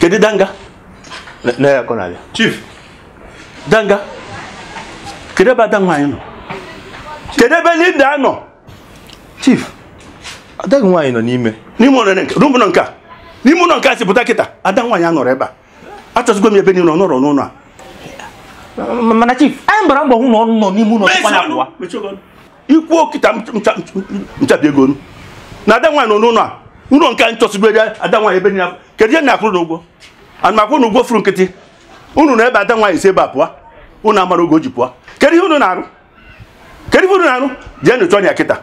kedu danga na ya kọrọ abịa chief danga kedu ebe ada nwaanyị nọ kedu ebe linda nọ chief ada nwaanyị nọ n'ime n'ime ụlọ nke ime ụlọ nke a n'ime ụlọ nke a si pụta kịta ada nwaanyị anọrọ ebe a achọsịgo m ebe niile ọ nọrọ n'ụlọ a mana chief anyị gbara mbọ hụ na ọ nọ n'ime ụlọ tupu anyị apụwa i kwuo kịta m chabie gị ọnụ na ada nwaanyị nọ n'ụlọ a ụlọ nke anyị chọsịgo ada nwaanyị ebe niile kedu ihe m na-akwụrụ unu ụgwọ ana m akwụ unu ụgwọ furu nkịtị unu nọ ebe a ada nwaanyị si ebe a pụọ unu amarọ oge o ji pụọ kedu ihe unu na-arụ kedu ihe unu na-arụ jeenụ chọọnụ ya kịta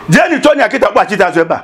jeenụ chọọnụ ya kịta kpọchite azụ ebe a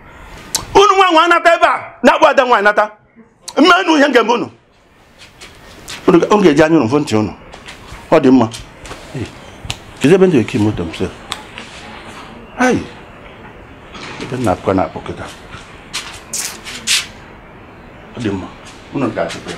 unu nwaa anwa nata ebe a na-akpọrọ ada nwaanyị nata m mee unu ihe m ga-eme unu unu ga-eji anya unu fụ ntị unu ọ dị mma kedu ebe m debe key moto m sị ayi ebe nna akụkọ na-akpọ kịta ọ dị mma unu ga-achịkwa ya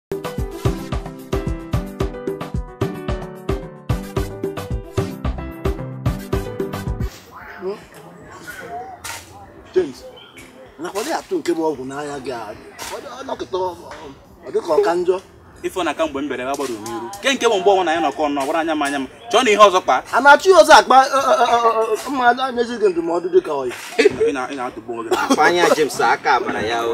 nke bụ ọgwụ n'anya gị nọkịta ọ dịka ọ ka njọ ife na aka mgbe m bere agbara n'iru nke nke bụ mgbe ọnwa na ya nọkọ nọ gbara anya m anya m chọọ na ihe ọzọ kpa a na-achụ ya ọzọ akpa m na-enyezi gị ndụmọdụ dịka ọyị ị na-atagbu onwe gị anya James aka agbara ya o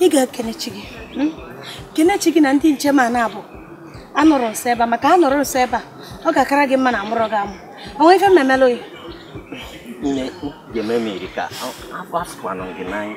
ị ga-ekene chi gị hmm? kene chi gị na ndị nche m a naabọ anọrọ nso ebe a maka anọrọ nso ebe a ọ ga-akara gị mma na amụrọ gị amụ o nwe ife mmemele oyi nne ga-eme m iri ka afọ asụkwanụ gị n'anya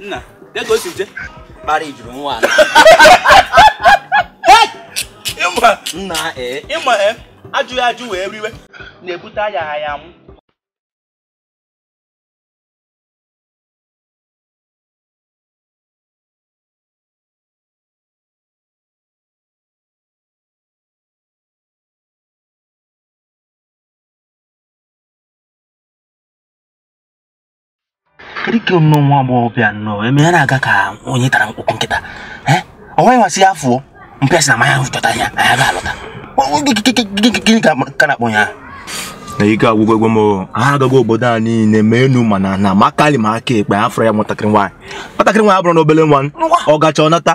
nna ya ka o si je kpara ijuru nwa nna ee ị ma ee ajụghị ajụ wee riwe na-ebute ayaghị aya nwụọ dịka nnọọ nwa agbọghọbịa nnọọ eme ya na-aga ka onye tara ọkpụkpụ nkịta ọ nwaa anwa si ya fụọ mpịasị na manya chọta ya anya ga-alọta gịnị ka na-akpọ ya na ike agwụgwo egwe m agago obodo a niile ma enu ma ana ma aka nri ma aka ekpe afụrọ ya nwatakịrị nwaanyị nwatakịrị nwaanyị abụrọnụ obele nwa ọ gacha ọ nata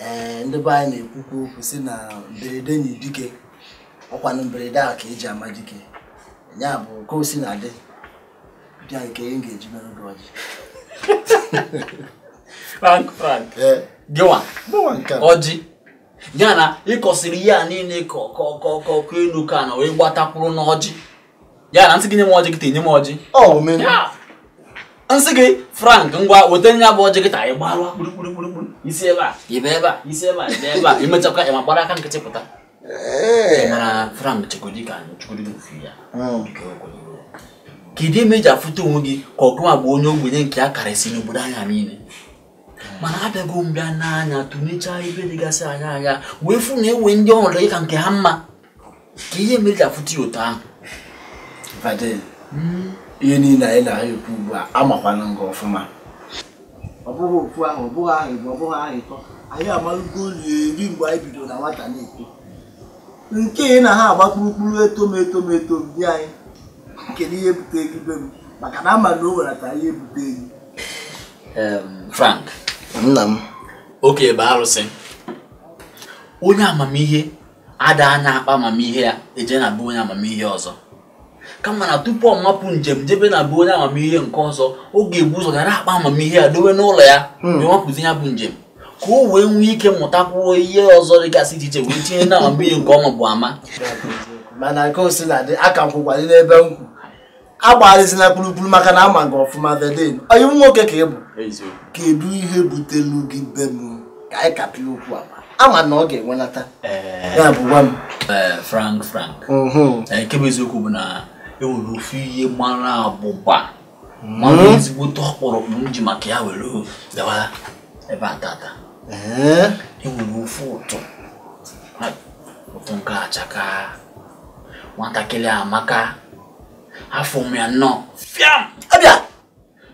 ee ndị be anyị na-ekwukwu okwu sị na mberede nyiri dike ọkwanụ mberede a ka eji ama dike nya bụ ka o si na dị bịa nke ihe ga-eji mere gị ọjị frank frank eh. gịnwa ọjị ya na ịkọsịrị ihe a niile kọọ enu kọọ ana wee gbatakwuru n'ọjị ya na nsị gị nye m ọjị kịta enye m ọjị nsị gị frank ngwa weta nya bụ ọjị kịta ị gbalụ kpurukpurukpuru i si ebe a ị ba ebe a i si ebe a ị ba ebe a i mechakwa ị ma gbara aka nkịtị pụta mana Frank chekwudi ka chekwudi ofu ya hmm. kedu ihe mere i ji afụta onwe gị ka ọ gị nwa bụ onye ogbenye nke a karịsị n'obodo anyị a niile mana abịago m bịa nee anya tụnechaa ebe dịgasị anya anya wee fụ na enwe ndị ọrụ gị ka nke ha mma kee ihe mere i ji afụta ya otu ahụ hmm. ihe niile a ị na-ekwu ugbu a amakwana m gị ọfụma ọ bụghị ofu ahọ ọ bụghị ahọ ịbụọ ọ bụghị ahọ ịtọ anyị amalugolu eri mgbe anyị bidoro na nwata na-eto nke ị na ha agba kpurukpuru etom etom etom di anyị kedu ihe bute gị be m maka na ama m na o nwerata ihe bute gị Frank nna m oke ebe arụsị onye amamihe ada anya akpa amamihe ya eje na be onye amamihe ọzọ kama na tupu ọ mapụ njem jebe na be onye amamihe nke ọzọ ọ ga-ebu ụzọ gara akpa amamihe ya dowe n'ụlọ ya hmm. wee mapụzi nya bụ njem ka o wee nwee ike mụtakwuo ihe ọzọ dịgasị iche iche wee tinye na amamihe nke ọ mabu ama mana ka o si na dị a ka m kwụkwalị n'ebe m kwụ agbagharịzila kpurukpuru maka na ama m gị ọfụma veden ọyị m nwoke ka ị bụ kedu ihe butelu gị be m ka anyị kapịa okwu ama m na ọ ga-enwelata eh. ya bụ gwa m eh, frank frank mhm. eh, nke bụ eziokwu bụ na enwere ofu ihe mara abụba mara mhm. ezigbo ọkpụrụkpụ m ji maka ya were gawa ebe a tata enwere ofu ụtụ ụtụ nke achaka nwatakịrị amaka afụ m ya nnọọ fiam abịa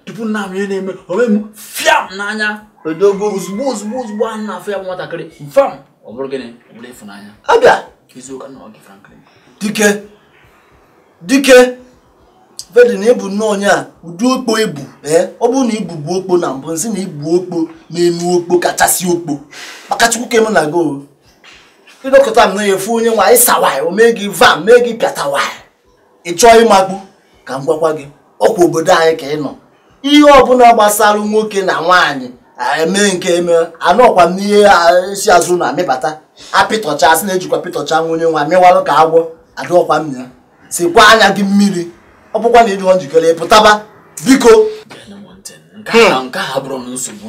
tupu m na-ama ihe na-eme o mee m fiam n'anya odogo ozugbo ozugbo ozugbo m na-afụ ya bụ nwatakịrị mfam ọ bụrụ gịnị ọ bụrụ ịfụnanya abịa eziokwu ka m na-agwa gị franklin dike dike vedi na ị bụ nnọọ onye a ụdị okpo ị bụ ee ọ bụrụ na ị bụbu okpo na mbụ nsị na ị bụ okpo n'enu okpo kachasị okpo maka chukwu kere mụ na gị ịdọkọta m na ị fụ onye nwa ị sawaị o mee gị vam mee gị pịatawaị ị chọọ ịmakpu ka m gwakwa gị ọkwa obodo anyị ka ị nọ ihe ọbụla gbasara nwoke na nwaanyị eme nke eme anọkwa m n'ihe si azụ na amịbata apịtọcha asị na-ejikwa pịtọcha nwa onye nwa mịwalụ ka agwọ adịọkwa m ya sikwa anya gị mmiri ọ bụkwa na ị dịọ njikere pụtaba biko nke a bụrụ nsogbu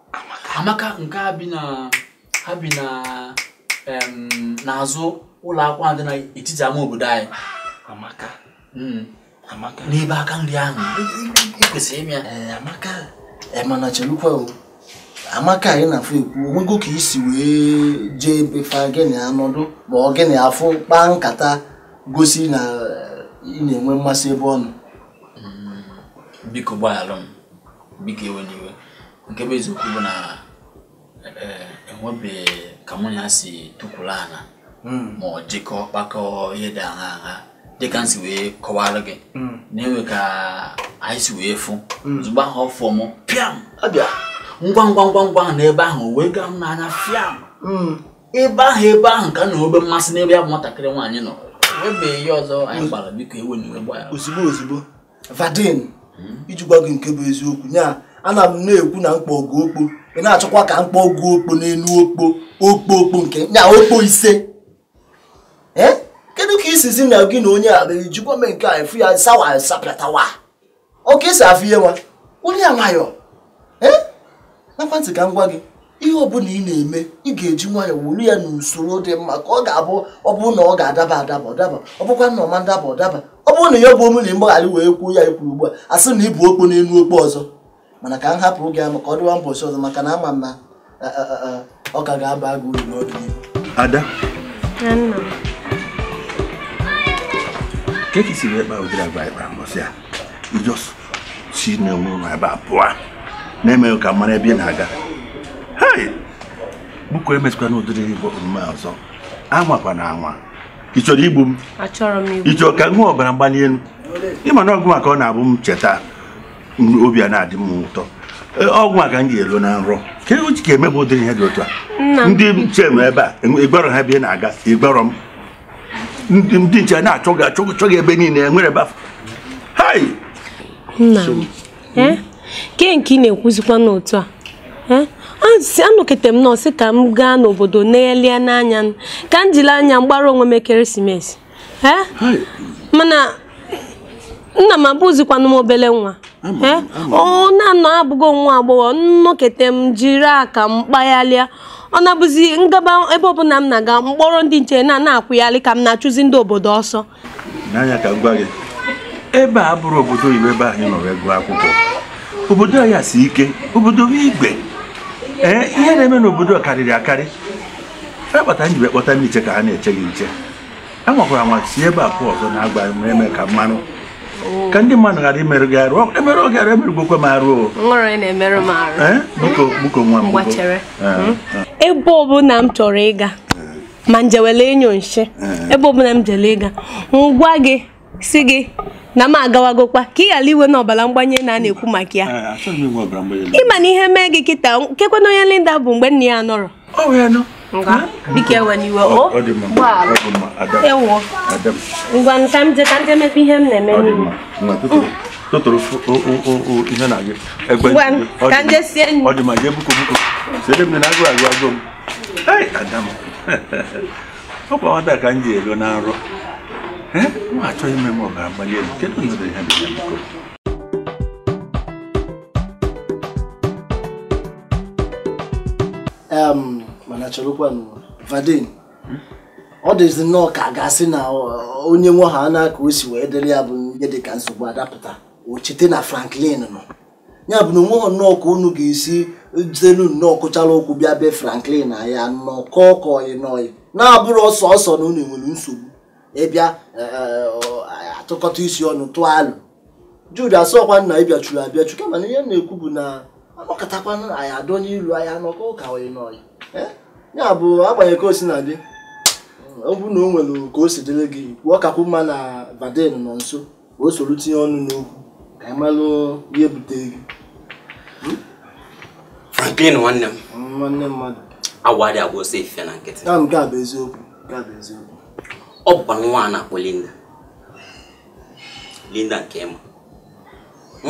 amaka nke ha bi n'azụ ụlọ akwụkwọ dị n'etiti ama obodo anyị hmm. n'ebe aka nri ahụ kwesịrị ịma ya eh, amaka eh, mana chelukwa o amaka ị na-afụ ekwu onwego ka isi wee jee be fa gị na ya anọdụ ma ọ gị na ya afụ kpaa nkata gosi na eh, ị na-enwe mmasị ebe ọ nọ hmm. biko gbaghalụ m biko ewena iwe nke bụ eziokwu bụ na eh, enwebe ka mụ ya si tukwuru ana hmm. ma ọ jikọọ kpakọọ ihe dị agha agha dịka m si wee kọwara gị hmm. na enwe ka anyị si wee fụ hmm. ozugbo ahụ ọ fụọ m pịam abịa ngwa ngwa ngwa ngwa n'ebe ahụ wee gaa m n'anya fiam ebe ahụ ebe ahụ ka m nwebe mmasị n'ebe ya bụ nwatakịrị nwaanyị nọ enwebe ihe ọzọ anyị kpara biko ewena iwe gbara ozugbo ozugbo Vadin iji gwa gị nke bụ eziokwu nya ana m na-ekwu na m kpọọ gị okpo ị na-achọkwa ka m kpọọ gị okpo n'elu okpo okpo okpo nke nya okpo ise eh? kedu ka isizi na gị na onye a ijikwa mee nke a ị fụ ya sawa sapịatawa ọ ka esi afụ ihe nwa onye a nwayọọ ee ṅakwa ntị ka m gwa gị ihe ọbụla ị na-eme ị ga-eji nwayọọ wuru ya n'usoro dị mma ka ọ ga-abụ ọ bụrụ na ọ ga-adaba adaba ọ daba ọ bụkwa na ọ ma ndaba ọ daba ọ bụrụ na ya bụ omume mgbaghara wee kwuo ihe a ikwuru ugbu a asị na ibu okpo n'elu okpo ọzọ mana ka m hapụ gị amaka ọ dịwa mbọchị ọzọ maka na ama m na ọ ka ga-aba gị uru n'ọdịnihu ada ke ka i si wee kpa ụdịrị agwa ị kpa mbọsị a ị just si n'onwe ụlọ ebe a pụọ na-emeghị ka m mara ebe ị na-aga biko emesịkwana ụdịrị ya bụ omume ọzọ anwakwana anwa ị chọrọ igbu m ị chọrọ ka m nwee ọbara mgbali elu ịma na ọ gịwa ka ọ na-abụ m cheta obi a na-adị m ụtọ e, ọ gịwa ka m ga-alọ na nrọ ke ihe ị ji emebe ụdịrị ihe dị otu a ndị nche nọ ebe a ị gwarọ ha ebe ị na-aga ị gwarọ m ndị nche na-achọ gị achọ chọ gị ebe niile enwerọ ebe afọ hai nna m eh? ke nke ị na-ekwuzikwanụ otu a eh? anọkata m nọọ sị ka m gaa n'obodo neghalịanụ anya ka m jiri anya m gbara onwe m ekeresimesi mana nna m abụzikwanụ m obele nwa ọ na-anọ abụgo nwa agbọghọ m nọkata m jiri aka m kpagharịa ọ na-abụzi m gaba ebe ọbụla m na-aga m kpọrọ ndị nche na na-akwụgharị ka m na-achụzi ndị obodo ọsọ n'anya ka m gwa gị ebe a abụrọ obodo oyibo ebe ị nọ wee gụọ akwụkwọ obodo anyị si ike obodo bụ igwe ee ihe na-eme n'obodo karịrị akarị akpata m ji wee kpọta ndị nche ka ha na-eche gị nche a nwakwara nwa si ebe a pụ ọzọ na-agba ma eme ka mmanụ ka ndị mmadụ ghara imerụ gị arụ emerụọ gị arụ emerụgokwa m arụ biko nwa m ebe ọbụla m chọrọ ịga ma m jewele ịnyụ nshi ebe ọbụla m jele ịga m gwa gị si gị na m agawagokwa ka ị ghara inwenụ ọbara mgbani enu a na-ekwu maka ya eh, ịma na ihe mee gị kịta kekwanụ onye Linda bụ mgbe nne ya nọrọ biko ewena iwe o ewo ngwanụ ka m je ka m je mepe ihe m na-eme n'iwu totoro ihe na gị egbe ka m je sie nri ọ dị mma jee biko biko sede m na agụụ na-agụ m ada m ọkwa nwata ka m ji elo na nrọ Eh, m achọghị ime m ọbara mgbali elu kedu onye dere ha dere biko Em, mana cherekwanụ Vadin ọ dịzi nnọọ ka a ga-asị na ọ- onye nwe ha na ka o si wee dịrị ya bụ ihe dị ka nsogbu adapụta o chete na Franklin nọ ya bụ na onweghị nnọọ ka unu ga-esi jidenu nnọọ kụchara okwu bịa be Franklin na ya anọkọọ ka ọyị na ọyị na-abụrọ sọọsọ na unu nwere nsogbu ị bịa e, e, atụkọta isi ọnụ tụọ alo Jude asịkwa m na ịbịachuru abịachu kama na ihe m na-ekwu bụ na anọkọtakwana anyị adọ n'ilu anyị anọkọ ka ọyị na ọyị e, ya bụ agbanyeghị ka o sina dị ọ bụrụ na o nwere ka o si dịrị gị kwuo ọ kakwu mma na Vadin nọ nso o soro tinye ọnụ n'okwu ka anyị malụ ihe butere gị hmm? Franklin nwanne m hmm, nwanne m ị ma na awọ adị agba ọsọ efifie na nkịtị nke a bụ eziokwu nke a bụ eziokwu ọ bụkwa nwa a na-akpọ Linda Linda nke ị ma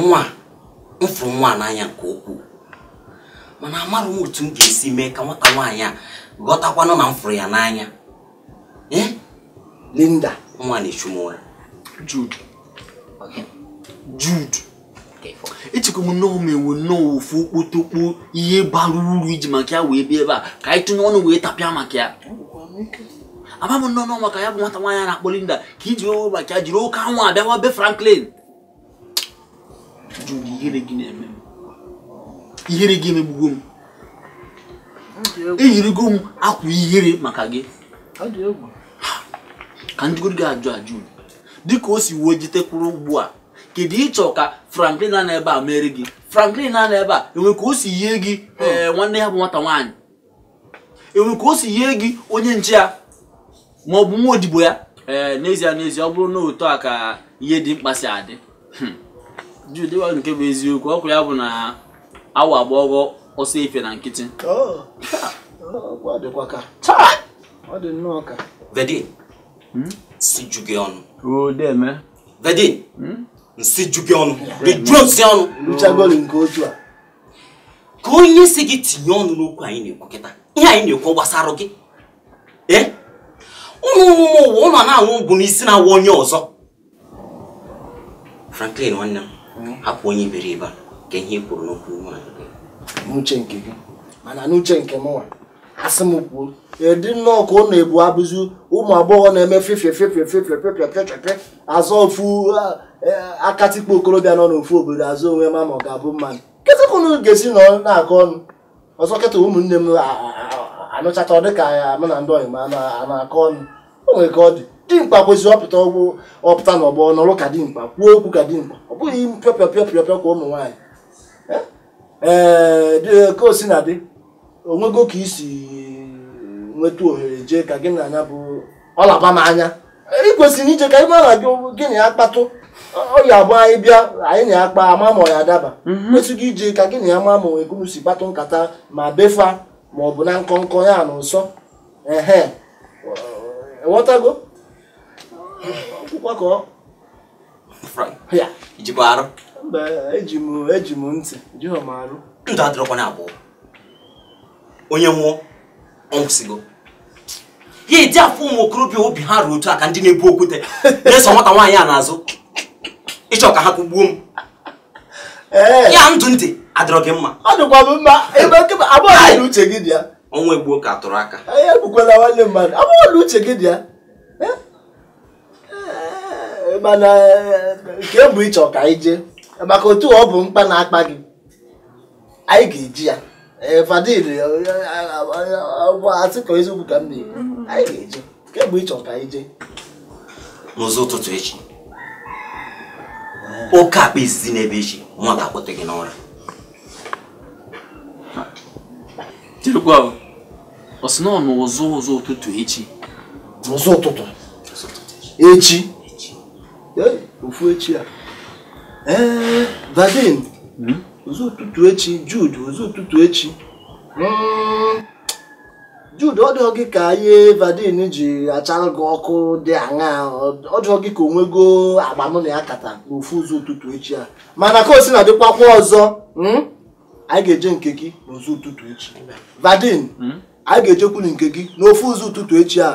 nwa m fụrụ nwa a n'anya nke ukwuu mana amarọ m otu m ga-esi mee ka nwata nwaanyị a ghọtakwanụ na m fụrụ ya n'anya Eh? Linda nwa na-echu m ụra Jude Jude echekwa m na o nwere nnọọ ofu okpotokpo ihe bara uru i ji maka ya wee bịa ebe a ka anyị tụnye ọnụ wee tapịa maka ya ama m na ọ maka ya bụ nwata nwaanyị a na-akpọ Linda ka i ji wee maka ya jiri oke anwụ abịawa be Franklin Jude, ihere gị na-eme m. Ihere gị emegbugo m. Eyirigo m akwa ihere maka gị. Ka m jụgodu gị ajụjụ. Dịka o si wee jitekwuru ugbu a, kedu ihe ị chọ ka Franklin nọ ebe a meere gị? Franklin nọ ebe a, e nwe ka o si yie gị ee nwanne ya bụ nwata nwaanyị. e nwere ka o si yie gị onye nche ya ma ọ bụ nwa odibo ya ee n'ezie n'ezie ọ bụrụ na otu a ka ihe dimkpa si adị hmm. Jude nwa nke bụ eziokwu okwu a bụ na awọ agbaghọ ọsọ efifie na nkịtị oh. vedin hmm? nsị ju gị ọnụ vedin hmm? nsị ju gị ọnụ rijuo nsị ọnụ kee onye sị gị tinye ọnụ n'okwu anyị na-ekwu kịta ihe anyị na-ekwu gbasara gị ee unu ụmụ ụwa unu na-aṅụ ọgwụ isi na-awa onye ọzọ Franklin nwanne m hmm? hapụ onye iberibe a kee ihe i kwuru n'okwu n'uche nke gị mana n'uche nke mụnwa asị m kwuo edi nnọọ ka ọ na-ebu abụzi ụmụ agbọghọ na-eme fefie fefie fefie fefie fefie azọ ofu e, akatikpo okorobịa nọ n'ofu obodo azọ onye ma ma ọ ga-abụ mmadụ kịta ka unu ga-esi nọ na-akọ ọnụ ọzọ kịta ụmụnne m anụchata ọ dịka ya mụ na ndị ọyị m a na-akọ ọnụ o nwere ka ọ dị dimkpa kwesịrị ịpụta n'ọgbọ nọrụ ka dimkpa kwuo okwu ka dimkpa ọ bụghị pịọpịọpịọpịọpịọ ka ụmụ nwaanyị ee ka o si na-adị o nwego ka i si nweta ohere jee ka gị na ya bụ ọlaba m anya ị kwesịrị ije ka ị mara gị gị na ya kpatụ ọ ya-abụ anyị bịa anyị na ya kpa a ma ma ọ ya-adaba mhm. kwesị gị ije ka gị na ya ma ma o nwe ka unu si kpatụ nkata ma be fa ma ọ bụ na nkọ nkọ ya na nsọ ehe ghọtago akụkọ ka ọ i jikwa arụ eji m eji m ntị ejighọ m arụ ndụ adịrọkwa naabọ onye nwụọ ọ nwụsịgo ya edi afụ ụmụ okorobịa obi ha ra otu a ka ndị na-ebu okwute na-eso nwata nwaanyị a n'azụ ị chọ ka ha kụgbuo m ya ndụ ntị adịrọ gị mma ọ dịkwa m mma ebe ọ bụ na uche gị dị ya ọnwụ gbuo nke a tụrụ aka egbukwala nwanne mmadụ ọ bụ na uche gị dị ya mana kee mgbe ị chọrọ ka anyị jee maka otu ọ bụ mkpa na-akpa gị anyị ga-eje ya fadil asị ka eziokwu ka m na-ekwu anyị ga-eje kee mgbe ị chọrọ ka anyị jee n'ụzọ ụtụtụ echi oke ọkpa izizi na-ebe echi nwa ga-akpọte gị n'ụra ọ sị na ọ n'ụzọ ụtụtụ echi n'ụzọ ụtụtụ echi ofu echi a ee Vadin hmm? ụzọ ụtụtụ echi Jude ụzọ ụtụtụ echi hmm. Jude ọ dịghị gị ka ihe Vadin ji achara gị ọkụ dị aṅa ọ dịghị gị ka o nwego agba mụ na ya kata n'ofu ụzọ ụtụtụ echi a mana ka o si na dịkwakwa ọzọ hmm? anyị ga-eje nke gị n'ụzọ ụtụtụ echi vadin hmm? anyị ga-ejekwuru nke gị n'ofu ụzọ ụtụtụ echi a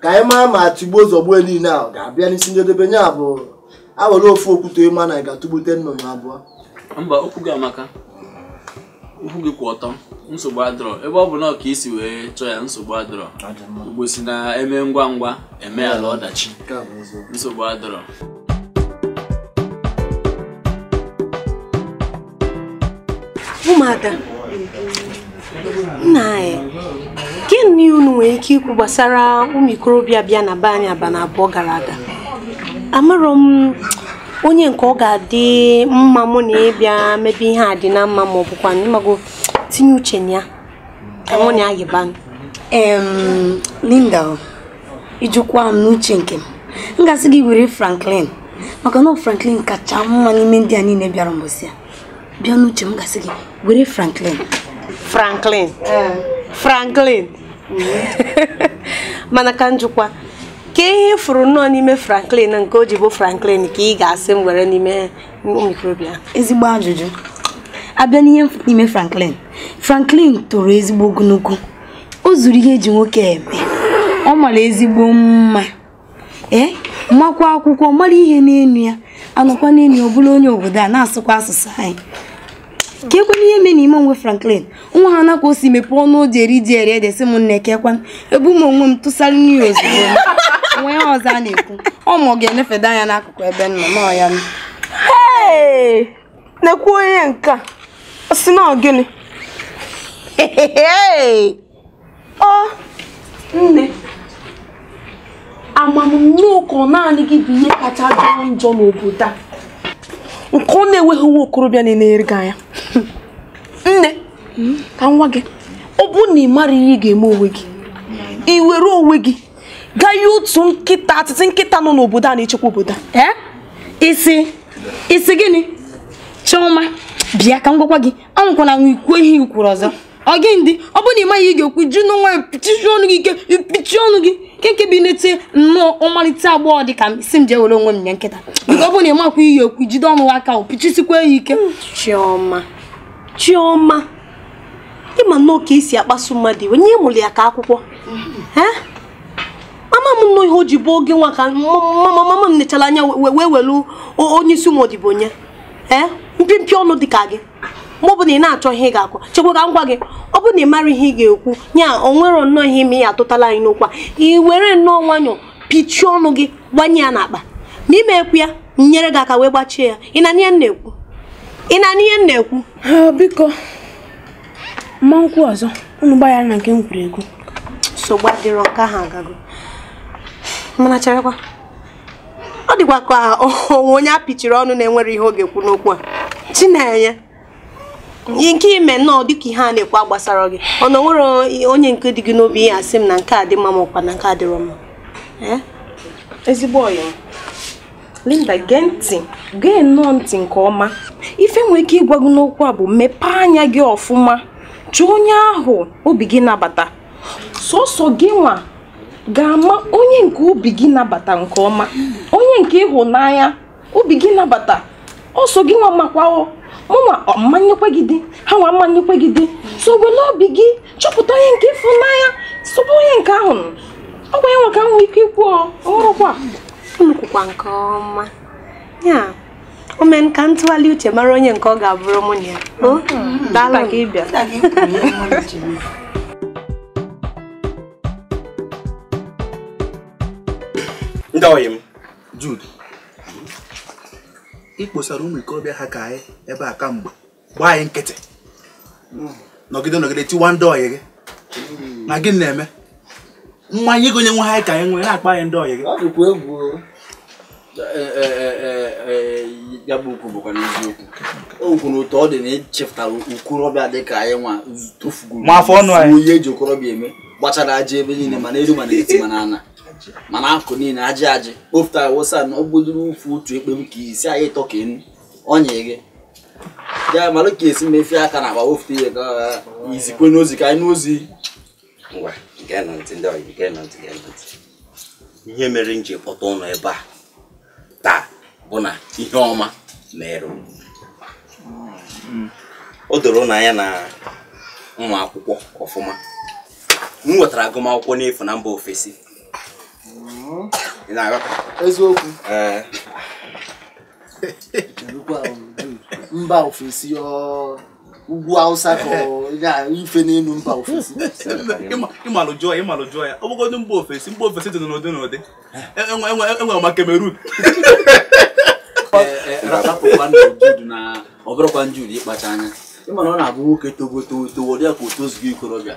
ka anyị maa ma tigbuo zọgbuo niile a ga-abịa n'isi njedebe nye abụ awere ofu okwute ị ma na ị ga-atụgbute nnụnụ abụọ mba okwu gị amaka okwu gị kwụ ọtọ nsogbu adịrọ ebe ọ bụ na ọ ka i si wee chọọ ya nsogbu adịrọ Igbo sị na eme ngwa ngwa emeala ọdachi nsogbu adịrọ ụmụada nna anyị gịnị unu nwere ike ikwu gbasara ụmụ ikorobịa bịa na be anyị abanị abụọ gara aga amarọ m onye nke ọ ga-adị mma mụ na ya bịa mebe ihe a dị na mma ma ọ bụkwa ị mago tinye uche na ya ka mụ na ya yibanụ Linda ị jụkwa m n'uche nke m m ga-asị gị were Franklin maka na Franklin kacha mma n'ime ndị a niile bịara mbọsị a bịa n'uche m ga-asị gị were Franklin Franklin eh. Franklin mana ka m jụkwa kee ihe ị fụrụ nnọọ n'ime Franklin nke o ji bụ Franklin ka ị ga-asị m were n'ime ụmụ ikorobịa ezigbo ajụjụ a bịa n'ihe n'ime Franklin Franklin toro ezigbo ogologo o zuru ihe eji nwoke eme ọ mara ezigbo mma ee makwa akwụkwọ mara ihe n'enu ya a nọkwa n'enu ọ bụrụ onye obodo a na-asụkwa asụsụ anyị keekwanụ ihe mee n'ime onwe Franklin nwa ahụ na ka o si mepee ọnụ o ji eri ji eri ede sị m nne keekwanụ ebu m onwe m tụsara n'iru ya ozugbo nwa ya ọzọ a na-ekwu ọ ma ọ ga-enefeda anya n'akụkụ ebe m nọ nọ ya nọ. nekwa onye nke a ọ sị na gịnị ọ nne ama m nnọọ ka ọ naanị gị bụ ihe kacha jọọ njọ n'obodo a nke ọ na-enweghị nwa okorobịa na-enere gị anya nne ka m gwa gị ọ bụ na ị mara ihe ị ga-eme onwe gị ị were onwe gị gaa nye otu nkịtị nkịta nọ n'obodo a na-echekwa obodo a isi ị sị gịnị chioma bịa ka m gwakwa gị anwakwana anwa ikwu ihe i kwuru ọzọ ọ gịnị dị ọ bụrụ na ị maghị ihe ị ga-ekwu jiri nwayọ pichisie ọnụ gị ike i pichie ọnụ gị kee nke bụ i nete nnọọ ọmalịcha agbọghọ dị ka m sị m jee were onwe m nye nkịta nke ọ bụrụ na ị makwa ihe ị ekwu jide ọnụ aka ahụ pichisikwa ya ike chioma chioma ị ma nnọọ ka e si akpasu mmadụ iwe ị mụrụ ya ka akwụkwọ ama m nnọọ ihe o ji bụ gị nwa ka mama m nechara anya wee welu onye isi ụmụ odibo nye ee eh? mpịmpị ọnụ dị ka gị ma ọ bụ na ị na-achọ ihe ị ga-akọ chekwa ka m gwa gị ọ bụ na ị marọ ihe ị ga-ekwu ya o nwere nnọọ ihe ime ya atụtala anyị n'okwu a ị were nnọọ nwayọ pichie ọnụ gị gbanye ya n'akpa ma ime ekwu ya nyere gị aka wee gbachie ya ị na ihe m na-ekwu ị na ihe m na-ekwu ah, biko m ma ekwu ọzọ unu gbaghara na nke m kwuru ekwu nsogbu adịrọ nke ahụ agago mana cherekwa ọ dịkwa ka o nwee onye a pịchiri ọnụ na enwerọ ihe ọ ga-ekwu n'okwu a chinenye nke i me nnọọ dịka ihe a na-ekwu agbasarọ gị ọ na enwerọ onye nke dị gị n'obi ị ya-asị m na nke a dị mma ma ọ kwa na nke a dịrọ mma ezigbo ọyị Linda gee ntị gee nnọọ ntị nke ọma ife m nwee ike ịgwa gị n'okwu a bụ mepee anya gị ọfụma chọọ onye ahụ obi gị nabata sọsọ gị nwa ga-ama onye nke obi gị nabata nke ọma onye nke ị hụ n'anya obi gị nabata ọ sọ gị nwa makwa o mụ nwa ma-enyekwa gị di ha nwa ma-enyekwa gị di so wele obi gị chọpụta onye nke ị fụ n'anya sobe onye nke ahụ ọ bụ ya nwa ka m nwee ike ikwu ọhụrụkwa unu kwukwa nke ọma ya o mee ka m tụgharịa uche mara onye nke ọ ga-abụrụ mụ na ya mm-hmm. daalụ ka ị bịa ndị ọyị m Jude ị kpọsara ụmụ okorobịa ha ka anyị ebe a kemgbe gbaa anyị nkịtị nọgide nọgide tiwa ndị ọyị gị na gị na-eme mmanya ị gonyere anyị ka ị wee na-akpọ anyị ndị ọyị gị ọ dịkwa egwu ya bụ okwu bụkwanụ eziokwu o kwuru otu ọ dị na echepụtara okorobịa dị ka anyị nwa tofugoro ma afọ ọnụ anyị ihe e ji okorobịa eme gbachara ajị ebe niile ma n'elu ma n'etiti ma n'ana ma n'akụkụ niile ajị ajị kpofutara wụsa na ogbodoro ụfụ otu ekpe m ka isi anyị ịtọ ka enu ọnya gị ya malụ ka e si emefe aka n'akpa wofute ihe ka i zikwenụ ozi ka anyị nụ ozi ngwa geenụ ntị ndị ọyị geenụ ntị geenụ ntị ihe mere m ji kpọta ụnụ ebe a taa bụ na ihe ọma mere o doro n'anya na nwa akwụkwọ ọfụma m nwetara agụmakwụkwọ n'efu na mba ofesi eziokwu mba ofesi ugwu awụsa ka ife n'elu mba ofesi ịmalụ jụọ ya ịmalụ jụọ ya ọ bụgodị mba ofesi mba ofesi dị n'ụdị n'ụdị enwere e, e, e, ma Cameroon rapụkwa Jude na ọ bụrụkwa Jude ịkpacha anya ị mana ọ na-abụ nwoke togo togo ọ dị ka o tozugo ikorobịa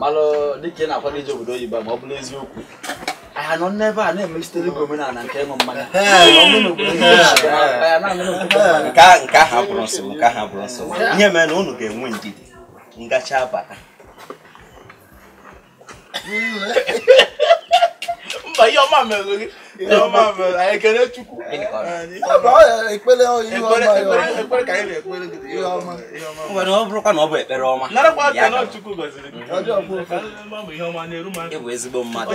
malụ dịka ị na-akwado ije obodo oyibo ma ọ bụrụ eziokwu anyị nọ n'ebe a na-emesitere gị omenala nke ịṅụ mmanya nke ahụ abụrụ nsogbu nke ahụ abụrụ nsogbu ihe mere na unu ga-enwe ndidi m gacha bata mba ihe ọma mere gị nwere ọ bụrụkwa na ọ bụ ekpere ọma ị bụ ezigbo mmadụ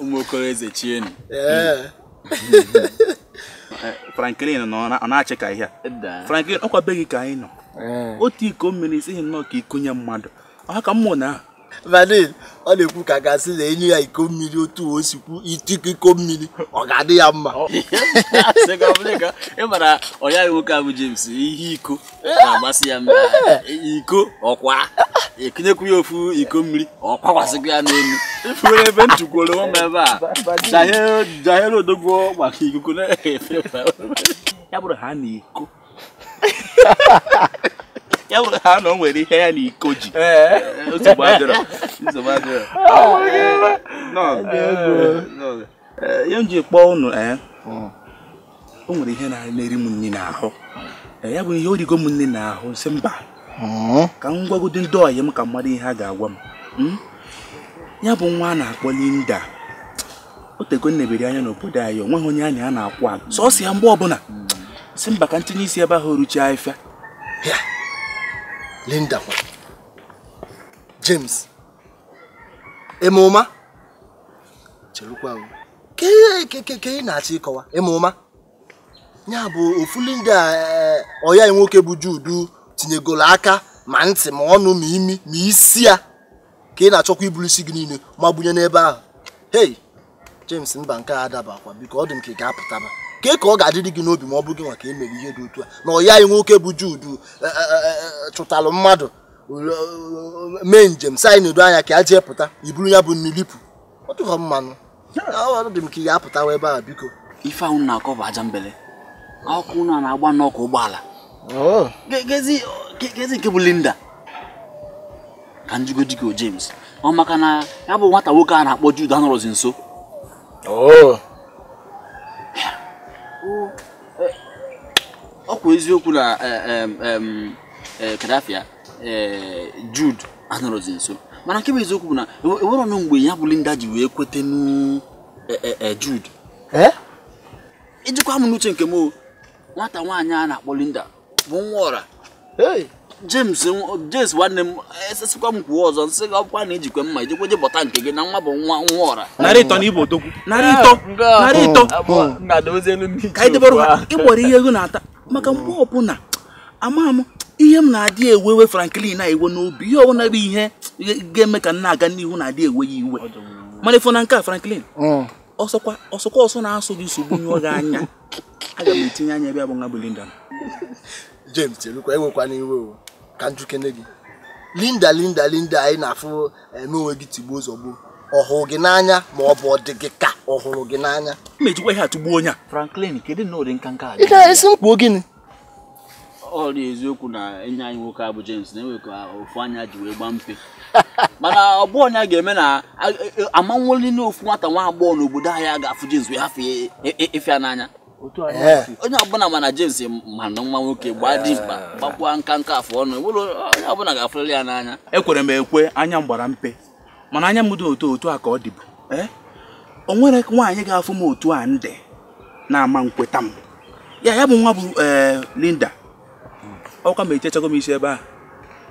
ụmụokoro eze chienu Franklin ọ na-achị ka ihe a Franklin ọkwa be gị ka anyị nọ otu iko mmiri i sighị nnọọ ka ikunye mmadụ ọha ka mmụ na vanin ọ na-ekwu ka a ga-asị na e nye ya iko mmiri otu o si kwu itikọ iko mmiri ọ ga-adị ya mma ị mara ọya nwoke a bụ James ihe iko na-amasị ya mma iko ọkwa e kunyekwu ya ofu iko mmiri ọkwakwasịkwa ya n'elu ifuru ebe m tukwuru ụmụ ebe a jahere odogwu maka ikuku na-efe efe ya bụrụ ha na iko ya bụrụ ha na o nwere ihe ya na iko ji nsogbu adịrọ nsogbu adịrọ eh, ihe m ji kpọọ unu ee eh, hmm. o nwere ihe na-eri m nri n'ahụ eh, ya bụ ihe o rigo m nri n'ahụ sị mba hmm. ka m gwagodi ndị ọyị m ka m mara ihe a ga-agwa m hmm? ya bụ nwa a na-akpọ Linda o tego m nebere anya n'obodo anyị onweghị onye anya a na-akwụ ala sọsọ ya mgbe ọbụla sị mba ka m tinye isi ebe ahụ o ruchie afịa Linda kwa James ịma ụma chelukwa ka ị na-achọ ịkọwa ịma ụma ya bụ ofu Linda eh, ọyị anyị nwoke bụ Jude tinyegoro aka ma ntị ma ọnụ ma imi ma isi ya ka ị na-achọkwa iburu isi gị niile ma gbunye n'ebe ahụ hei James mba nke a adabakwa biko ọ dị m ka ị ga-apụtaba ka ka ọ ga-adịrị gị n'obi ma ọ bụ gị nwa ka e mere ihe dị otu a na ọyị anyị nwoke bụ Jude e, e, e, chụtalụ mmadụ mee njem si anyị na-edo anya ka a jee pụta iburu ya bụ nni lipụ ọ dịghọ mma nụ ọ dị m ka ị ga-apụtawa ebe a biko ife ahụ na-akọ bụ aja mbele ọkụ na na-agba n'ọkụ ụgbọala oh. kezi nke bụ Linda ka m jụgodịkwa o James ọ maka na ya bụ nwata nwoke a na-akpọ Jude anọrọzi nso oh. ọ kwa eziokwu na eh, ee Kadafia ee Jude anọrọzi nso mana nke bụ eziokwu bụ na enwe- enwerọnụ mgbe ya bụ Linda ji wee kwetanụ e- e- e, Jude ee ijikwa m n'uche nke m o, nwata nwaanyị a na-akpọ Linda bụ nwa ọra Hey, James nwa- James nwanne m esesikwa m kwuo ọzọ m sị gị ọkwa na i jikwe mma i jikwa je bọta nke gị na nwa bụ nwa nwa ọra narị ịtọ na ibo odogwu narị ịtọ narị ịtọ na dozie elu ndị ka anyị debere ha ịgbọrọ ihe ego na-ata maka mgbe ọbụla ama m ihe m na-adị ewewe Franklin na iwe n'obi ihe ọbụla bụ ihe ga-eme ka m na-aga n'ihu na-adị ewe ya iwe mana ị fụ na nke a Franklin mm. ọsọkwa ọsọkwa ọsọ na-asụ gị nsogbu nyụọ gị anya aga m etinye anya ebe ya bụ nwa bụ Linda James chelukwa ewekwana iwe o ka m jụkene gị linda linda linda anyị na-afụ eh, eme onwe gị tigbuo zọgbuo ọ hụrụ gị n'anya ma ọ bụ ọ dị gị ka ọ hụrụ gị n'anya mejikwa ihe atụgbuo onye a Franklin kedu na ụdị nka nka ị ga-esi m kwuo gịnị ọ dị eziokwu na enyi anyị nwoke a bụ James na enwe ka ofu anya ji wee gbaa mpe mana ọ bụ anya ga-eme na ama nweli na ofu nwata nwa agbọghọ n'obodo anyị a ga-afụ James wee hafụ ịfụ ya n'anya onye ọbụla ma na James ma na nwa nwoke gbaa dimkpa gbakwa nka nka afọ ọnụ onye ọbụla ga-afụrịrị ya n'anya ekwere m ekwe anya m gbara mpe mana anya m dị otu otu a ka ọ dịbu eh? o nwere nwaanyị ga-afụ m otu a ndị na-ama nkweta m ya ya bụ nwa bụ eh, Linda ọkwa ma echechago m isi ebe a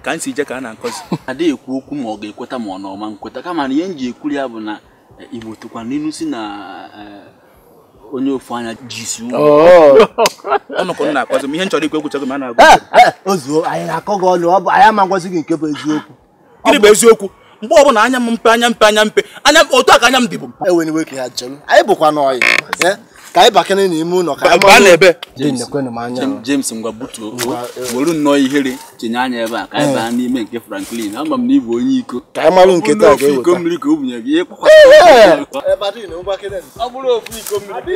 ka m si je ka a na-akọzi adịghị ekwu okwu ma ọ ga-ekweta ma ọ na ọ ma nkweta kama na ihe m ji ekwuri ya bụ na Igbo tụkwa n'inu sị na eh, onye ofu anya ji isi ụgwọ oh. ọnụkọ na-akọzi m ihe m chọrọ ikwu ekwuchago m a na-agwa eh, eh, ozuo anyị na-akọ gị ọnụ ọ bụ anyị ama ngwazi gị nke bụ eziokwu gịnị bụ eziokwu mgbe ọbụla anya m mpe anya mpe anya mpe anya otu a ka anya m dịbụ ewena iwe ka ya chọrọ anyị bụkwanụ ọyị ka anyị bakene n'ime ụlọ ka anyị baa n'ebe James ngwa butuo were nnọọ ihere tinye anya ebe a ka anyị baa n'ime nke Franklin ama m na ị bụ onye iko ka anyị malụ nke taa ga-eweta iko mmiri ka o bunye gị ịkpakwa ọ bụrụ ofu iko mmiri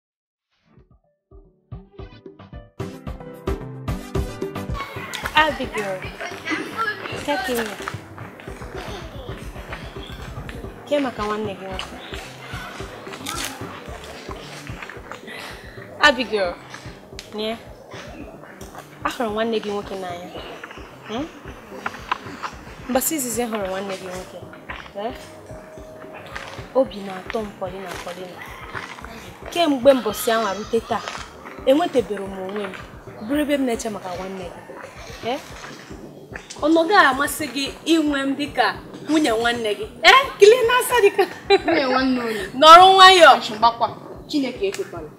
Abigail, take him. Kee maka nwanne gị nwoke. Abigail, na ahụrụ m nwanne gị nwoke n'anya. Hmm? Mbọsị izizi hụrụ nwanne gị nwoke. Eh? obi na-atọ m Paulina Paulina kemgbe mbọsị anwa rute taa enwetebere m onwe m bụrụ ebe m na-eche maka nwanne gị eh? ọ na ọ ga-amasị gị inwe m dịka nwunye nwanne gị ee eh? kilie n'asa dịka nọrọ nwayọọ Chineke ekwekwala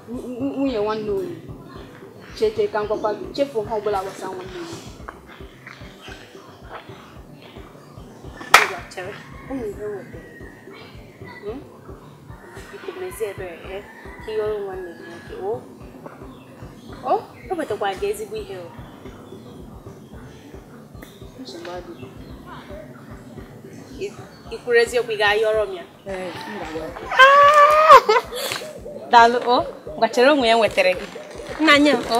nwunye nwanne onye chere ka m gwakwa gị chefuo ihe ọbụla gbasara nwanne onye eziokwu ị ga-ayọrọ m ya daalụ ngwa chere onwe ya nwetara gị nna nye m o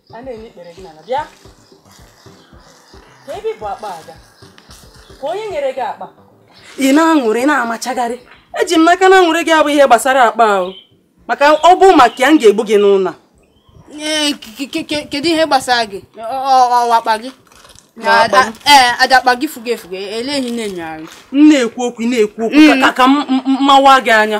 a na-enye ikpere gị n'ala bịa ka ebe bụ akpa aga ka onye nyere gị akpa ị na-aṅụrị na-amachagharị eji m n'aka na aṅụrị gị a bụ ihe gbasara akpa ahụ maka ọ bụ maka ya m ga-egbu gị n'ụlọ a kedu ihe gbasara gị ọ bụ akpa gị ee aja akpa gị fugo efugo lee gị na-enyogharị m na-ekwu okwu na-ekwu okwu ka ka m mawa gị anya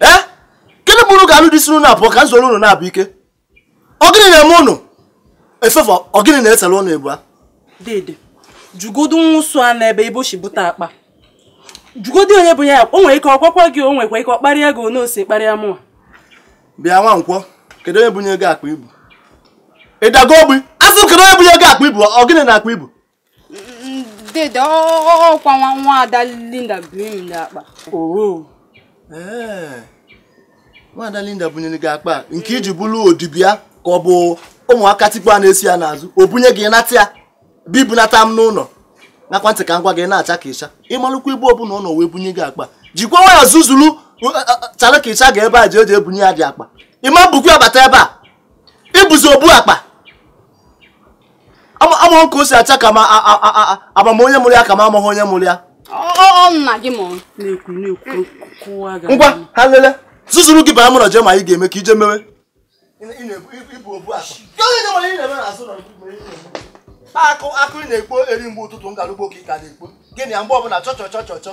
ee gịnị bụrụ ka alụ dị si na abụọ ka nzoro unu na-abụ ike ọ gịnị na-eme unu Favour ọ gịnị na-esere unu abụa dede jụgodu nwa ụsụ a n'ebe ebe o si bute akpa jụgodu onye bunye ya o nwere ike ọ gwakwa gị o nwekwa ike ọ kparịa gị otu o si kparịa mụwa bịa Nwankwọ kedu onye bunye gị akpa ị bu ị dago ogbi a sị kedu onye bunye gị akpa ị bu ọ gịnị na akpa ị bu dede ọkwa nwa nwaada linda bunyere m akpa oo ee nwaada linda bunyere gị akpa nke i ji bụrụ odibo ya ka ọ bụ ụmụaka tikpu a na-eso ya n'azụ o bunye gị nata ya bịa ibunata m n'ụlọ ṅakwa ntị ka m gwa gị na-acha ka ịcha ị malụkwa ebe ọbụla ọ nọ wee bunye gị akpa jikwa nwayọ zuzuru uh, uh, uh, chara ka ịcha ga ebe a ji eji ebunye gị akpa ị ma bukwa ya bata ebe a ị bụzi obu akpa amaghị ka o si acha ka m ama onye mụrụ ya ka m amaghị onye mụrụ ya ngwa ha lele zuzuru gị baa m ụlọ je mee ihe ị ga-eme ka i je mewe akụ akụ ị na-ekpo eri mgbe ụtụtụ galuo ugbu a ka ị ka na-ekpo gịnị ya mgbe ọbụla chọchọchọchọchọ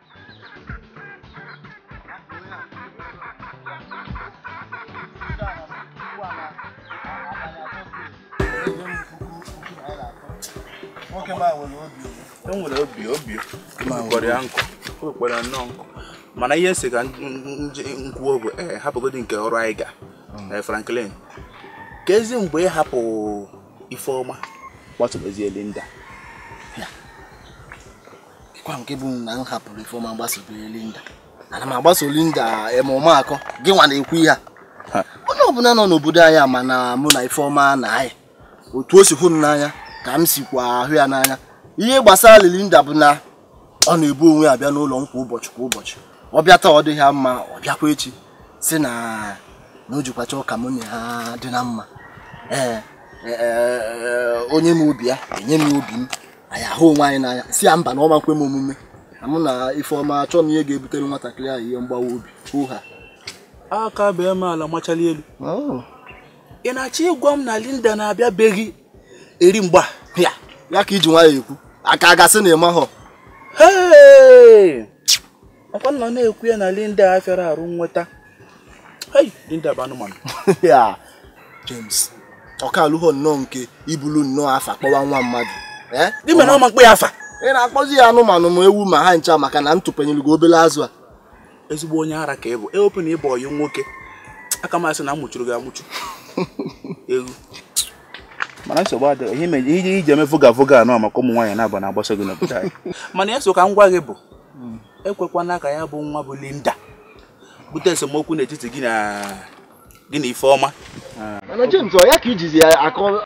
nwoke ma nwere obi e nwere obi obi kpọrọ ya nkụ kpọrọ ya nnọọ nkụ mana ihe m si ka m kwuo bụ ee eh, hapụgodi nke ọrụ anyị ga hmm. eh, Franklin keezi mgbe ị hapụ Ifeọma gbasobezie Linda kekwa nke bụ na m hapụrụ ifeọma gbasobe linda ana m agbaso linda mụnwa ọkwa gị nwa na-ekwu ihe a onye ọbụla nọ n'obodo anyị ma na mụ na ifeọma na-ayị otu o si hụ m n'anya ka m sikwa ahụ ya n'anya ihe gbasara linda bụ na ọ na-ebu onwe ya bịa n'ụlọ m kwa ụbọchị kwa ụbọchị ọ bịa taa ọ dịghị mma ọ bịakwa echi si na na o jikwa chọọ ka mụ na ya dị na mma ee e, e, e, o nye m obi ya enye m obi m anyị ahụ onwe anyị n'anya si ya mba na ọ ma nkwe m omume na mụ na ifeọma achọghị m ihe ga-ebutere nwatakịrị ahụ ihe mgbawa obi ọ haa aka bee m ala machali elu oh. ị na-achọ ịgwa m na Linda na-abịabeghị eri mgbe a ya ka i ji nwayọ ekwu a ka ga-asị na ị mahọ ọkwa mụ na-ekwu ya na Linda a fịara arụ nweta Linda bụ anụmanụ James ọ ka aluhọ nnọọ nke i bulu nnọọ afa kpọwa nwa mmadụ eh? gị mere ọma m kpọọ ya afa ị na-akpọzi ya anụmanụ ma ewu ma ha ncha maka na m tụpenyere gị obele azụ a ezigbo onye ara ka ị bụ ewepụ na ị bụ ọyị m nwoke aka m asị na a mụchuru gị amụchu ewu mana nsogbu adịghị ihe mere ihe i ji eme voga voga a ọ maka ụmụ nwaanyị na-aba na-agbaso gị n'obodo anyị mana ihe m si ka m gwa gị bụ ekwekwana ka ya bụ nwa bụ Linda bute esemokwu n'etiti gị na Ifeọma mana James ọ ya ka i jizi ya akọ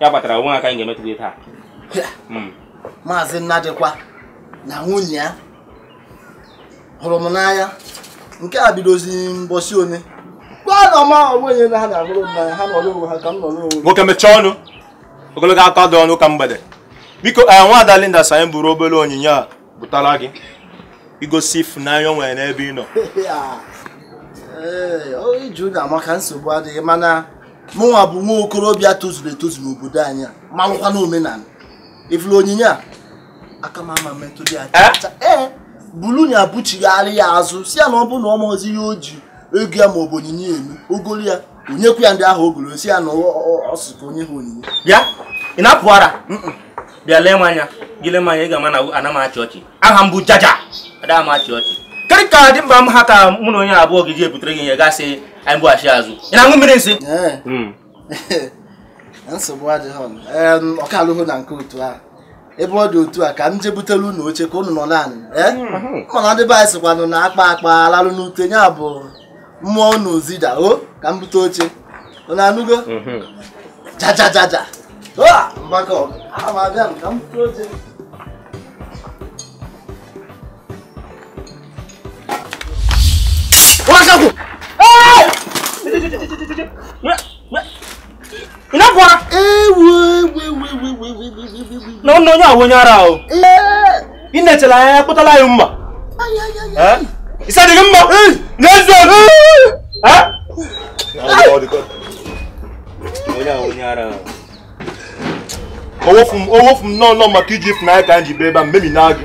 ya kpatara o nwe aka anyị ga-emetụ gị taa hmm. maazị Nnadịkwa na nwunye ya hụrụ m n'anya nke a bidozi mbọsị one nwoke mechie ọnụ ogologo okwu adịrọ n'ụka mgbede biko eh, nwaada Linda sị anyị buru obere onyinye a butara gị igosi ịfụnanya o nwere n'ebe ị nọ iju na amaka nsogbu adịghị mana mụnwa bụ nwa okorobịa tozuru etozu n'obodo anyị a malụkwanụ omenala ị fụrụ onyinye a aka m ama metụdị ya cha ee bulu ya buchighara ya azụ si ya na ọ bụrụ na ọ maọzi ihe o ji ego ya ma ọ bụ onyinye eme o golu ya nyekwu ya ndị ahụ o goro si ya na ọ sị ka o nye ha onyinye bịa ị na-apụ ara bịa lee m anya gị lee m anya ị ga-ama na ana m achị ọchị aha m bụ jaja ada m achị ọchị kedụ ka dimkpa m ha ka mụ na onye abụọ ga-eji ebutere gị ihe ị ga-asị anyị bughachi azụ ị na-aṅụ mmiri nsị hmm. nsogbu adịghị ọ ka elughị na nke otu ahụ ebe ọ dị otu a ka m jee butere unu oche ka unu nọ n'anị eh? hmm. mana ndị be anyị sịkwanụ na a kpaa akpa a lalụ n'ute ya bụ mmụọ unu zida o ka m bute oche unu anụgo hmm. jajajaja mgbakọ abịa ka m bute oche What's up? Hey! ị na-apụ ara na ọnụ onye ahụ onye ara ahụ ị na-echela anya kpụtala anyị mma isi adịghị mma n'eziokwu owofu m nọọ nọ maka iji ịfụnanya ka anyị ji bịa ebe a mmemi na gị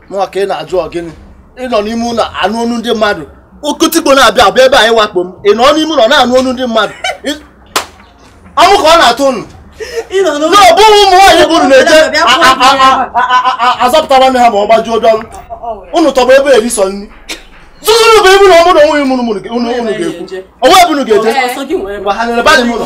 mụnwa ka ị na-ajụ ọ gịnị ị nọ n'ime ụlọ anụ ọnụ ndị mmadụ okotikpo na-abịa abịa ebe a ịwakpo m ị nọ n'ime ụlọ na-anụ ọnụ ndị mmadụ ọnwụ ka ọ na-atụ unu na ọ bụ ụmụ nwaanyị bụrụ na-eje azọpụta nwanne ha ma ọ gbajuo dọlọ unu tọgbọ ebe erisọ nri zuzuru bụ ebu na ọmụrụ onwe mụrụ mụrụ unu ga-ekwu o nwe ebe unu ga-eje mgbe ha nyere badị m ụlọ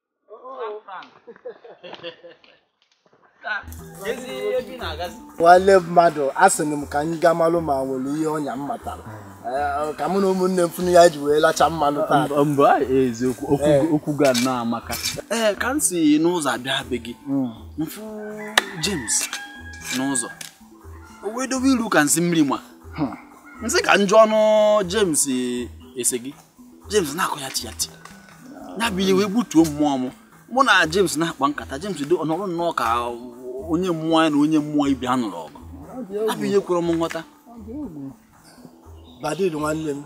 nwanne mmadụ a sị m ka anyị gaa malụ ma o nwere ihe ọnya m matara eh, ka mụ na ụmụnne m fụnụ ya-eji wee lacha mmanụ taa mba eziokwu okwu eh. ga na amaka ee eh, ka m si n'ụzọ abịa be gị hmm. m fụ James n'ụzọ o wee dobe iru ka nsị mmiri ma hmm. nsị ka njọ ọnụ James ese gị James na-akọ ya ti ya ti ya bụ ihe wee gbutuo mmụọ m mụ na James na-akpa nkata James dị ọnọrọ nnọọ ka onye mmụọ ya na onye mmụọ ibe ya nụrụ ọgụ ya bụ ihe ekwerọ m nghọta Badil nwanne m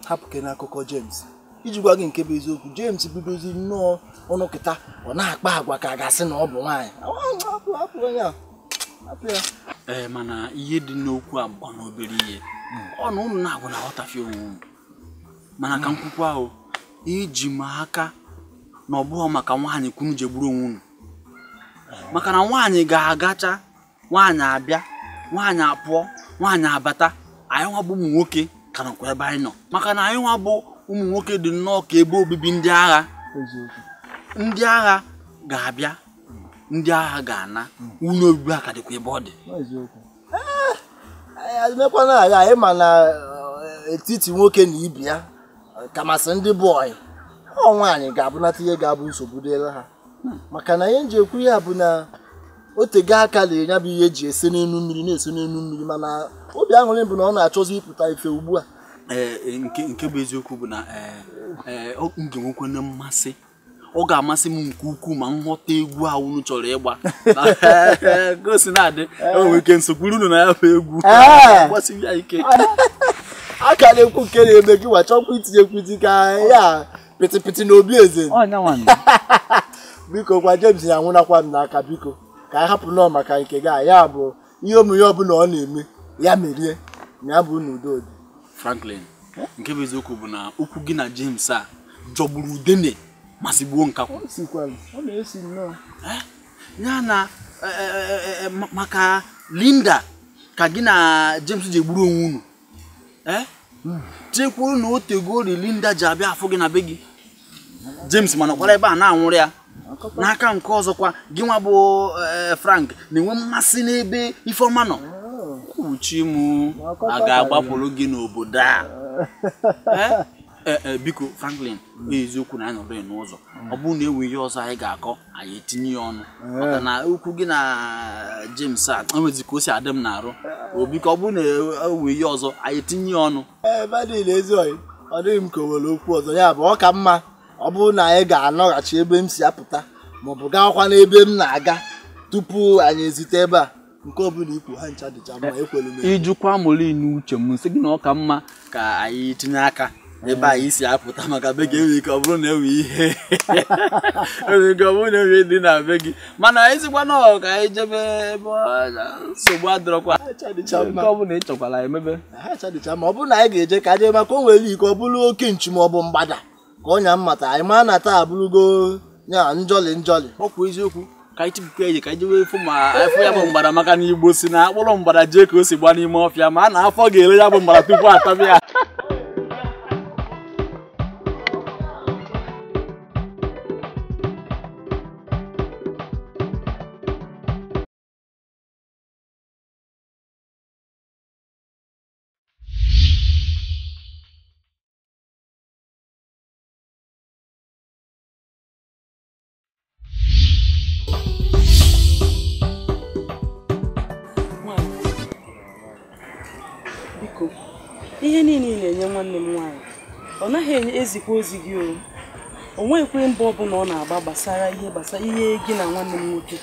hapụkene akụkọ James iji gwa gị nke bụ eziokwu James bidozi nnọọ ọnụ kịta ọ na-akpa agwa ka a ga-asị na ọ bụ nwaanyị ee mana ihe dị n'okwu a bụ na obere ihe ọ na unu naabọ na-aghọtafie onwe unu mana ka m kwukwa ahụ eji m aka na ọ bụghị maka nwaanyị ka unu ji egburu onwe unu maka na nwaanyị ga-agacha nwaanyị abịa nwaanyị apụọ nwaanyị abata anyị nwa bụ ụmụ nwoke ka nọkwa ebe anyị nọ maka na anyị nwa bụ ụmụ nwoke dị nnọọ ka ebe obibi ndị agha ndị agha ga-abịa ndị agha ga-ana ụlọ obibi a ka dịkwa ebe ọ dị eh, mekwana agha anyị ma na eh, etiti nwoke na ibe ya kamasị ndị bụ ọyị ọ nwaanyị ga-ebunata ihe ga-abụ nsogbu dịrị ha maka na ihe m ji ekwu ya bụ na o tego aka rinne ya bụ ihe ji ese n'elu mmiri na-ese n'elu mmiri mana obi aṅụrị bụ na ọ na-achọzi ịpụta ife ugbu a eh, nke bụ eziokwu bụ na m ga-enwekwana mmasị ọ ga-amasị m nke ukwuu ma m ghọta egwu a unu chọrọ ịgba ka o si na-adị enwere ike m sokwuru unu na ya bụ egwu gbasie ya ike a ka na-ekwu nke na-eme gị nwa achọkwa itinye kwuti ka ya pịtịpịtị n'obi eze biko gwa James ya nwụnakwa m n'aka biko ka anyị hapụ nọọ maka nke gị a ya bụ ihe omume ọbụla ọ na-eme ya merie na ya bụ na udo dị Franklin nke bụ eziokwu bụ na okwu gị na James a jọgburu udene ma sigbuo nkakwụ ya na e, e, e, maka Linda ka gị na James ji egburu onwe unu eh? chekwuru na o tegori Linda ji abịa afụ gị na be gị James ma nọkwara ebe a na-anwụrụ ya n'aka nke ọzọkwa gị nwa bụ eh, Frank na-enwe mmasị n'ebe Ifeọma nọ kwuchi m a ga-agbapụrụ gị n'obodo a eh? Ee, ee, biko Franklin eziokwu na anyị nọrọ ya n'ụzọ ọ bụrụ na enwe ihe ọzọ anyị ga-akọ anyị etinye ya ọnụ maka na okwu gị na James a o nwezi ka o si adị m n'arụ O, biko ọ bụrụ na enwe ihe ọzọ anyị etinye ya ọnụ ee badil ezi ọyị ọ dịghị m ka o nwere okwu ọzọ ya bụ ọ ka mma ọ bụrụ na anyị ga-anaghachi ebe m si apụta maọbụ gaakwa n'ebe m na-aga tupu anyị ezute ebe a nke ọbụla i kwu ha ncha dịcha mma ekwelu m ị jụkwa moli n'uche m m sị gị na ọ ka mma ka anyị tinye aka ebe anyị si apụta maka be gị enwere ike ọ bụrụ na enwe ihe enwere ike ọ bụrụ na enwe dị na be gị mana ị sịkwa na ọ ka anyị jebe ebe ọ- nsogbu adịrọkwa nke ọ bụla ị chọkwara e mebe ha ncha dịcha mma ọ bụrụ na anyị ga-eje ka anyị jee maka o nwere ike ọ bụrụ oke nchi ma ọ bụ mgbada ka ọnya m mata anyị ma na taa abụrụgo ya njọli njọli ọkwa eziokwu ka anyị chịpụkwa eji ka anyị jewe fụ ma a fụ ya bụ mgbada maka na Igbo sị na a kpụrụ mgbada jee ka o si gba n'ime ọfịa ma a na afọ ga-ele ya bụ mgbada tupu atabe ya ihe niile ị na-enye nwanne m nwaanyị ọ naghị enye ezikwa ozi gị o o nweghịkwa mbọ ọbụla ọ na-agba gbasara ihe gbasara ihe gị na nwanne m nwoke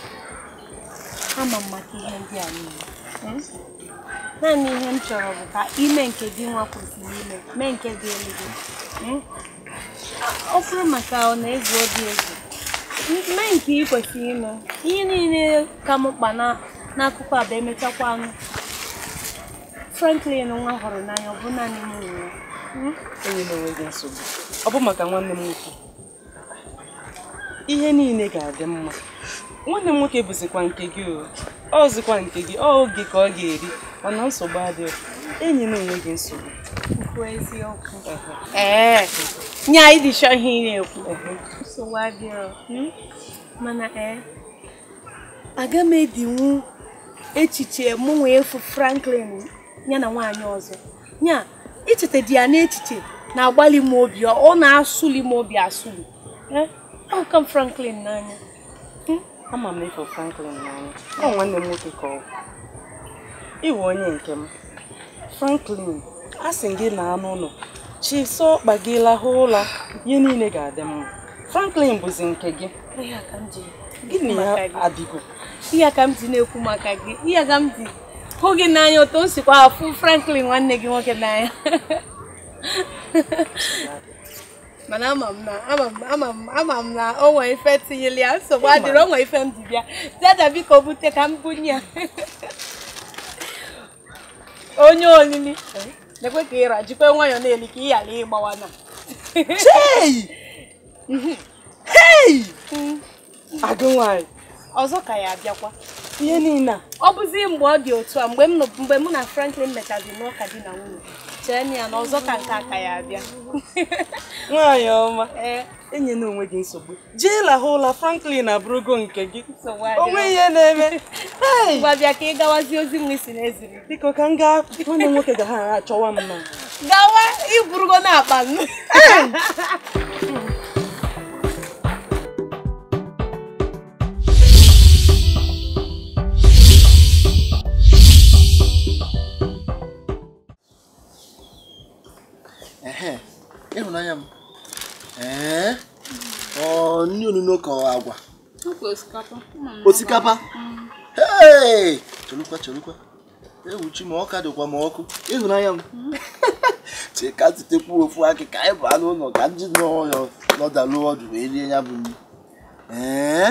ama m maka ihe ndị a niile hmm? naanị ihe m chọrọ bụ ka i mee nke gị nwa kwesịrị ime mee nke dịịlụ gị hmm? ọ bụrụ maka ọ na-egwu obi egwu mee nke ị kwesịrị ime ihe niile ka m mkpa n'akụkọ a bụ emechakwa anụ Franklin nwa hụrụ n'anya ọ bụ naanị m nwere hmm? enyena onwe gị nsogbu ọ bụ maka nwanne m nwoke ihe niile ga-adị mma nwanne m nwoke bụzikwa nke gị o ọ bụzikwa nke gị o oge ka ọ ga-eri mana nsogbu adịghị enyena onwe gị nsogbu ee nya ị dị sure ihe ị na-ekwu nsogbu adịghị hmm? mana ee eh, aga m edinwu echiche mụ wee fụ Franklin ya na nwaanyị ọzọ nya ichetadị ya n'echiche na-agbalị m obi ọ na-asụli m obi asụli eh, ahụka m Franklin n'anya hmm? ama m ị fụ Franklin n'anya ọ nwanne m nwoke ka ọ ị wụ onye nke m Franklin a sị gị naa n'ụlọ chịsa ọkpa gị lahụ ụla ihe niile ga-adị mma Franklin bụzi nke gị gịnị ya adịgo ihe ka m ji na-ekwu maka gị ihe ka m ji hụ gị n'anya otu m sikwa afụ Franklin nwanne gị nwoke n'anya mana ama m na ama m ama m ama m na o nwere ife tinyere ya nsogbu adịrọ o nwere ife m ji bịa dada biko bute ka m bunye ya onye olili na-ekwe ka ịra jikwa nwayọọ na-eli ka ị ghara ịgbawa na Hey! Hey! agụ nwaanyị ọzọ ka ya abịakwa ihe niile a ọ bụzi mgbe ọ dị otu a mgbe m nọ- mgbe mụ na franklin mechazi n'ụka di na nwunye chee na ya na ọzọ ka nke a ka ya abịa nwaanyị ọma ee enyela onwe gị nsogbu jee lahụ ụla franklin abụrụgo nke gị nsogbu adịghị. o nweghị ihe na-eme Hey! Ngwa bịa ka ị gawazie ozi nwa ị sị na e ziri biko ka m gaa nwanne m nwoke ga ha achọwa m na gawa i burugo na akpa m ịhụnanya m ee ọ nri onuno ka agwa osikapa chelukwa chelukwa ewu chi m ọ ka dịkwa ma ọkụ ịhụnanya m chika zitekwu ofu akị ka anyị baa n'ụlọ ka anyị nọdalụ ọdụ wee rie ya bụ nri ee